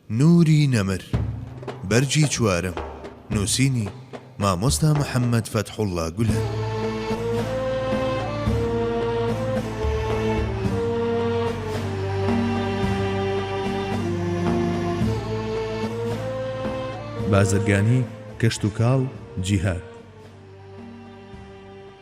نوری نەمر، بەرگی چوارەم، نووسینی، مامۆستا محەممەد فەتحوڵڵا گولەن. بازرگانی، کشتوکاڵ، جیهاد.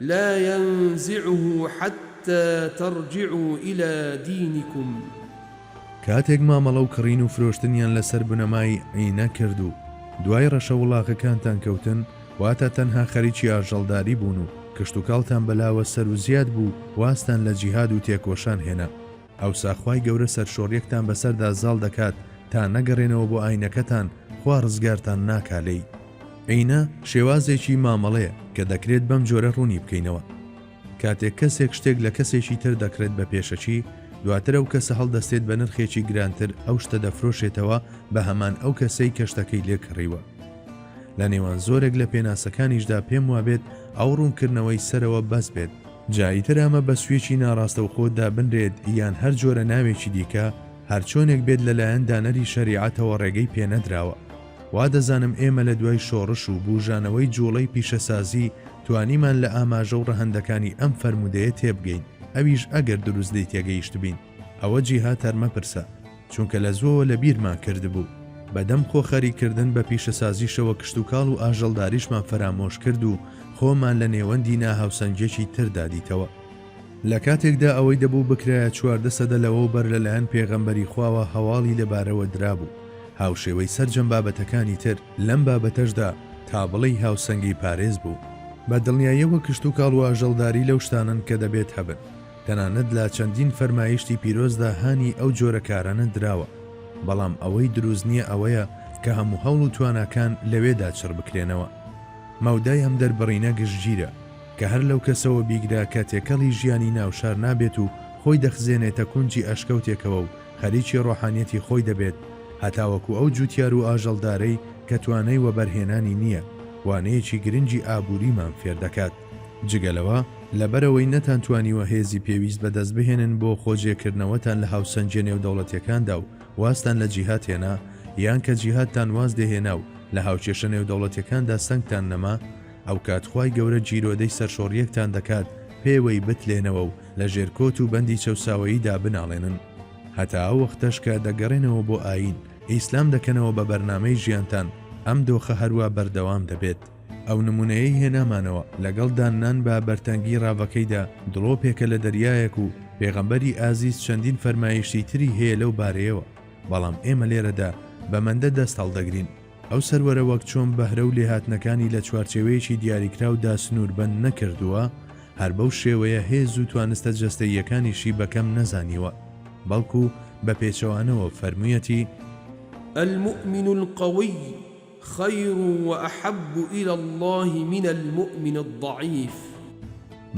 لا ينزعه حتى ترجعو الى دینکم. کاتێک مامەڵە و کڕین و فرۆشتنیان لەسەر بنەمای عینە کرد و دوای ڕەشە وڵاخەکانتان کەوتن، واتا تەنها خەریکی ئاژەڵداری بوون و کشتوکاڵتان بەلاوە سەروزیاد بوو، وازتان لە جیهاد و تێکۆشان هێنا. ئەوسا خوای گەورە سەرشۆڕیەکتان بەسەردا زاڵ دەکات تا نەگەڕێنەوە بۆ ئاینەکەتان خوا ڕزگارتان ناکا لێی. ئەینە شێوازێکی مامەڵەیە کە دەکرێت بەم جۆرە ڕوونی بکەینەوە. کاتێک کەسێک شتێک لە کەسێکی تر دەکڕێت بە پێشەکی، دواتر ئەو کەسە هەڵدەستێت بە نرخێکی گرانتر ئەو شتە دەفرۆشێتەوە بە هەمان ئەو کەسەی کە شتەکەی لێ کڕیوە. لە نێوان زۆرێک لە پێناسەکانیشدا پێم وابێت ئەو ڕوونکردنەوەی سەرەوە بەس بێت، جا ئیتر ئەمە بە سویچی ناڕاستەوخۆ دابنرێت یان هەر جۆرە ناوێکی دیکە هەرچۆنێک بێت لەلایەن دانەری شەریعەتەوە ڕێگەی پێنەدراوە. وا دەزانم ئێمە لە دوای شۆڕش و بوژانەوەی جوڵەی پیشەسازی توانیمان لە ئاماژە و ڕەهەندەکانی ئەم فەرموودەیە تێبگەین ئەویش ئەگەر دروست لێی تێگەیشتبین. ئەوە جیهات هەر مەپرسە چونکە لە زووەوە لە بیرمان کردبوو، بەدەم خۆ خەریک کردن بە پیشەسازیشەوە کشتوکاڵ و ئاژەڵداریشمان فەرامۆش کرد و خۆمان لە نێوەندی نا هاوسەنگیەکی تردا دیتەوە. لە کاتێکدا ئەوەی دەبوو بکرایە چواردە سەدە لەوەو بەر لە لایەن پێغەمبەری خواوە هەواڵی لە بارەوە درابوو، هاوشێوەی سەرجەم بابەتەکانی تر لەم بابەتەشدا تا بڵێی هاوسەنگی پارێز بوو. بە دڵنیایەوە کشتوکاڵ و ئاژەڵداری لەو شتانەن کە دەبێت هەبن. تەنانەت لە چەندین فەرمایشتی پیرۆزدا هانی ئەو جۆرە کارانە دراوە، بەڵام ئەوەی دروست نییە ئەوەیە کە هەموو هەوڵ و تواناکان لەوێدا چڕ بکرێنەوە. مەودای ئەم دەربڕینە گشتگیرە، کە هەر لەو کەسەوە بیگرە کە تێکەڵی ژیانی ناو شار نابێت و خۆی دەخزێنێتە کونجی ئەشکەوتێکەوە و خەریکی ڕۆحانیەتی خۆی دەبێت هەتاوەکو ئەو جووتیار و ئاژەڵدارەی کە توانای وەبەرهێنانی نییە، وانەیەکی گرنگی ئابووریمان فێر دەکات. جگە لەوە، لەبەرئەوەی نەتانتوانیوە هێزی پێویست بەدەست بهێنن بۆ خۆجێکردنەوەتان لە هاوسەنگییە نێودەوڵەتییەکاندا و وازتان لە جیهاد هێنا، یان کە جیهادتان واز لێهێنا و لە هاوکێشە نێودەوڵەتییەکاندا سەنگتان نەما، ئەوکات خوای گەورە گیرۆدەی سەرشۆڕییەکتان دەکات پێوەی بتلێنەوە و لە ژێر کۆت و بەندی چەوساوەییدا بناڵێنن. هەتا ئەو وەختەش کە دەگەڕێنەوە بۆ ئایین ئیسلام دەکەنەوە بە بەرنامەی ژیانتان، ئەم دۆخە هەروا بەردەوام دەبێت. ئەو نمونەیەی هێنامانەوە لەگەڵ داننان بە بەرتەنگی ڕاڤەکەیدا دڵۆپێکە لە دەریایەک و پێغەمبەری ئازیز چەندین فەرمایشتی تری هەیە لەو بارەیەوە بەڵام ئێمە لێرەدا بە مەندە دەست هەڵدەگرین. ئەو سەروەرە وەک چۆن بەهرە و لێهاتنەکانی لە چوارچێوەیەکی دیاریکراودا سنووربەند نەکردووە، هەر بەو شێوەیە هێز و توانستە جەستەییەکانیشی بە کەم نەزانیوە، بەڵکو بە پێچەوانەوە فەرموویەتی، المومن القوی، خیر و احب الی اللە من المومن الضعیف.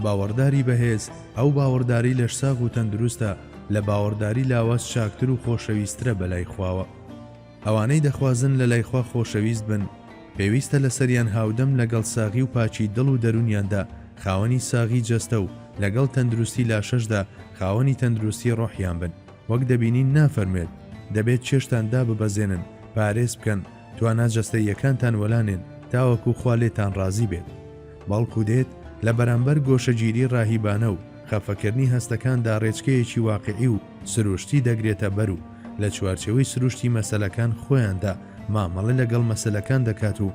باوەڕداری بەهێز ئەو باوەڕداری لەشساغ و تەندروستە لە باوەڕداری لاواز چاکتر و خۆشەویسترە بەلای خواوە ئەوانەی دەخوازن لەلای خوا خۆشەویست بن پێویستە لەسەریان هاودەم لەگەڵ ساغی و پاکی دڵ و دەرونیاندا خاوەنی ساغی جەستە و لەگەڵ تەندروستی لاشەشدا خاوەنی تەندروستی ڕۆحیان بن وەک دەبینین نافەرموێت، دەبێت چێشتان داببەزێنن، پارێز بکەن، توانا جەستەییەکانتان وەلانێن تاوەکو خوا لێتان ڕازی بێت. بەڵکو دێت لە بەرامبەر گۆشەگیری ڕاهیبانە و خەفەکردنی هەستەکاندا ڕێچکەیەکی واقیعی و سروشتی دەگرێتە بەر و لە چوارچێوەی سروشتی مەسەلەکان خۆیاندا مامەڵە لەگەڵ مەسەلەکان دەکات و